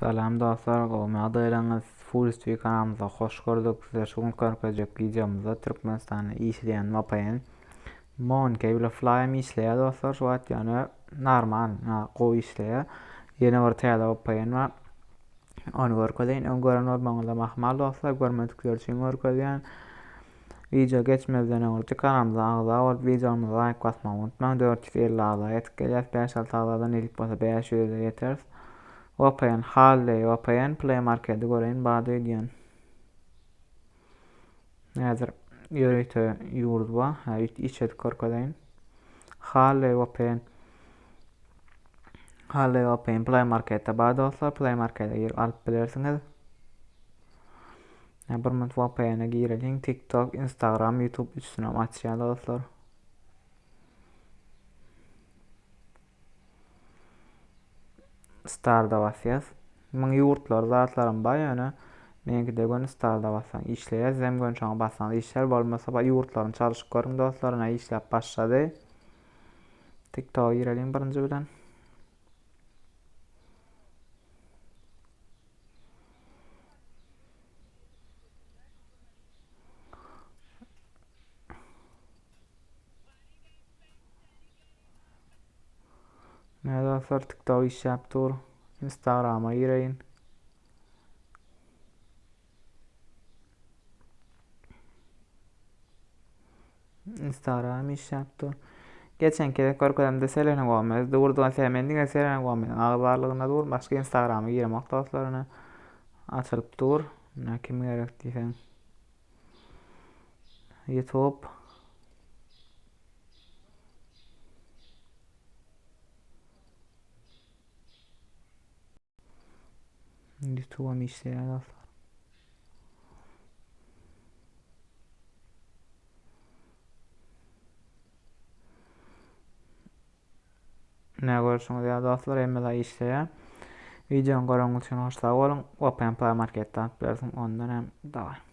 Salam dostlar gowmy ýagdaýlaryňyz Full TV kanalymyza hoş gördük size şu gün görkezjek wideomyzda Türkmenistanda işleýän VPN Mon Cable Fly'm işleýär dostlar şu wagt ýöne normal gowy işleýär ýene bir täze VPN bar ony görkezeýin öň gören bolmagyňyza mahmal dostlar görmedikler üçin görkezýän Wideo geçmezden öň Rti kanalymyza agza bolup wideolarymyza laýk basmagy unutmaň dört ýüz elli agza ýetip gelýäs bäş alty agzadan ilip bolsa bäş ýüze ýeteris Vpn Halley vpn play markedi göreýin bady öýdýän häzir ýörite ýurt ba hä üýt iç edip görkezeýin Halley vpn Halley vpn play marketde bar dostlar play markete girip alyp bilersiňiz Ýa bir minut VPN-e gireliň, TikTok, Instagram, YouTube üçüsinem açýar dostlar. Starda basýas. Muň ýurtlar zatlaram bar ýöne meňkide gön starda basaň işleýär, zem gön şoňa basaň işlär, bolmasa ba ýurtlaryny çalşyp görüň dostlar, ine işläp başlady. TikTok gireliň birinji bilen. Ne dostlar TikTok işläp dur. Instagrama gireýin. Instagram iş yaptı. Geçen kere görkezemde Selena Gomez durdu. Sen men diňe Selena Gomez agy barlygynda dur. Başka Instagrama giremok dostlaryna. Açylyp dur. Ne kim gerek diýseň. YouTube Ýutuwam işleýär dostlar. Ne görüşüňiz ya dostlar hemme zat işleýär. Videony göreniňiz üçin hoş sag boluň. Open Play Marketden alyp bilersiň ondan hem dawa.